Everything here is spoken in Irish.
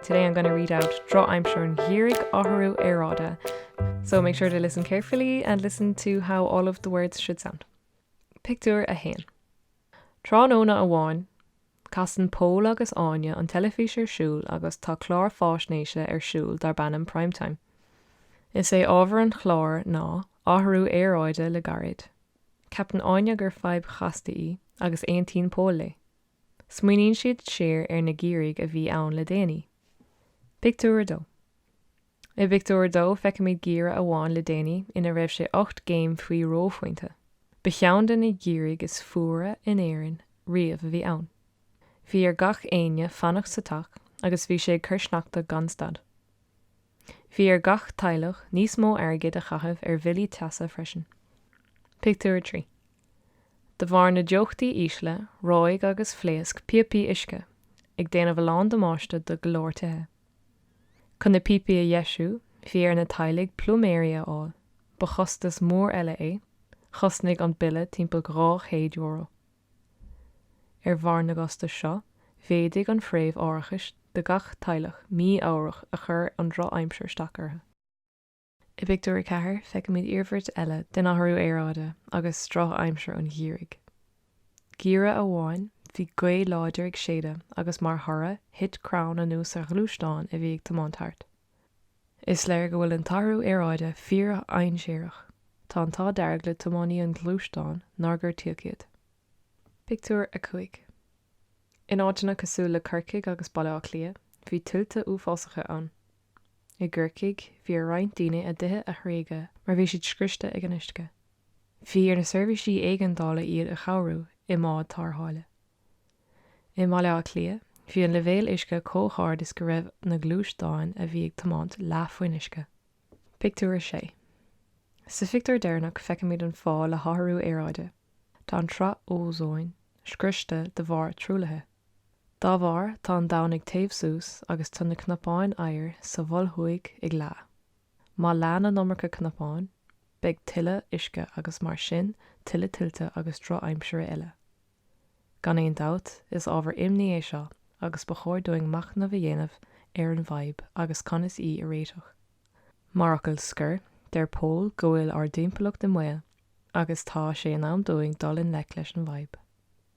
Today I'm gonna read out Drochaimsir an Gheimhridh athrú aeráide so make sure to listen carefully and listen to how all of the words should sound. Pictiúr 1. Tráthnóna amháin, casann Pól agus Áine an teilifís ar siúl agus tá clár fáisnéise ar siúl darb ainm Prime Time. Is é ábhar an chláir ná athrú aeráide le gairid. Ceapann Áine gur fadhb chasta í agus aontaíonn Pól léi. Smaoiníonn siad siar ar na geimhrí a bhí ann le déanaí. Pictiúr 2 I bpictiúr a dó feicimid geimhreadh amháin le déanaí ina raibh sé ocht gcéim faoi reophointe. Ba cheann de na geimhrí is fuaire in Éirinn riamh a bhí ann. Bhí ar gach éinne fanacht sa teach agus bhí sé ag cur sneachta gan stad. Bhí ar gach teaghlach níos mó airgid a chaitheamh ar bhillí teasa freisin. Pictiúr 3. De bharr na dteochtaí ísle, reoigh agus phléasc píopaí uisce, ag déanamh a lán damáiste do go leor tithe. Chun na píopaí a dheisiú, bhí ar na teaghlaigh pluiméirí a fháil, ba chostas mór eile é, chosnaigh an bille timpeall €200. Ar bharr na gcostas seo, mhéadaigh an phréimh árachais do gach teaghlach mí-ámharach a chuir an drochaimsir isteach orthu. I bpictiúr a ceathair, feicimid iarmhairt eile den athrú aeráide agus drochaimsir an gheimhridh. Geimhreadh amháin, bhí gaoth láidir ag séideadh agus mar thoradh, thit crann anuas ar ghluaisteán a bhí ag tiomáint thart. Is léir go bhfuil an t-athrú aeráide fíordhainséarach, tá an t-ádh dearg le tiománaí an ghluaisteáin nár gortaíodh iad. Pictiúr 5 In áiteanna cosúil le Corcaigh agus Baile Átha Cliath, bhí tuilte uafásacha ann. I gCorcaigh, bhí ar roinnt daoine a dtithe a thréigeadh mar bhí siad scriosta ag an uisce. Bhí ar na seirbhísí éigeandála iad a chabhrú i mbád tárrtháile. I mBaile Átha Cliath, bhí an leibhéal uisce chomh hard is go raibh na gluaisteáin a bhí ag tiomáint leath faoin uisce. Pictiúr 6 Sa phictiúr deireanach feicimid an fáth le hathrú aeráide, tá an tsraith ózóin scriosta de bharr truaillithe. Dá bharr, tá an domhan ag téamh suas agus tá na cnapáin oighir sa Mhol Thuaidh ag leá. Má leánn an iomarca cnapán, beidh tuilleadh uisce agus mar sin tuilleadh tuilte agus drochaimsire eile. Gan aon dabht, is ábhar imní é seo agus ba chóir dúinn machnamh a dhéanamh ar an bhfadhb agus conas í a réiteach. Mar fhocal scoir, deir Pól go bhfuil ár dtimpeallacht i mbaol agus tá sé in am dúinn dul i ngleic leis an bhfadhb.